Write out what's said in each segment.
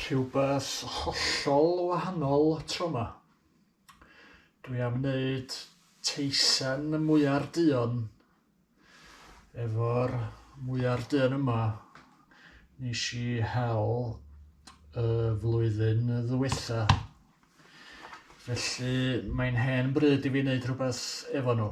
rhywbeth hollol wahanol tro 'ma. Dwi am wneud teisen mwyar duon Efo'r mwyar dân yma nes i hel y flwyddyn ddwytha. Felly mae'n hen bryd i fi wneud rhywbeth efo nhw.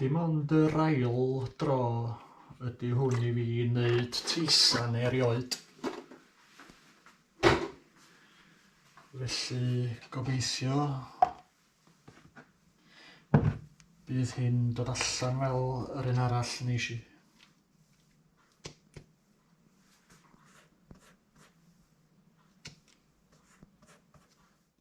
Dim ond yr ail dro ydy hwn i fi wneud teisan erioed. Felly gobeithio bydd hyn dod allan fel yr un arall nes i.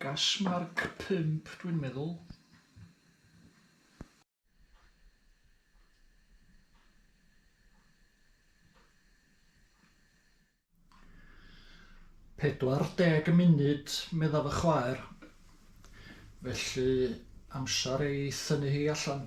Gas marc pump dwi'n meddwl. 40 y munud, meddaf y chwaer. Felly, amser ei thynnu hi allan.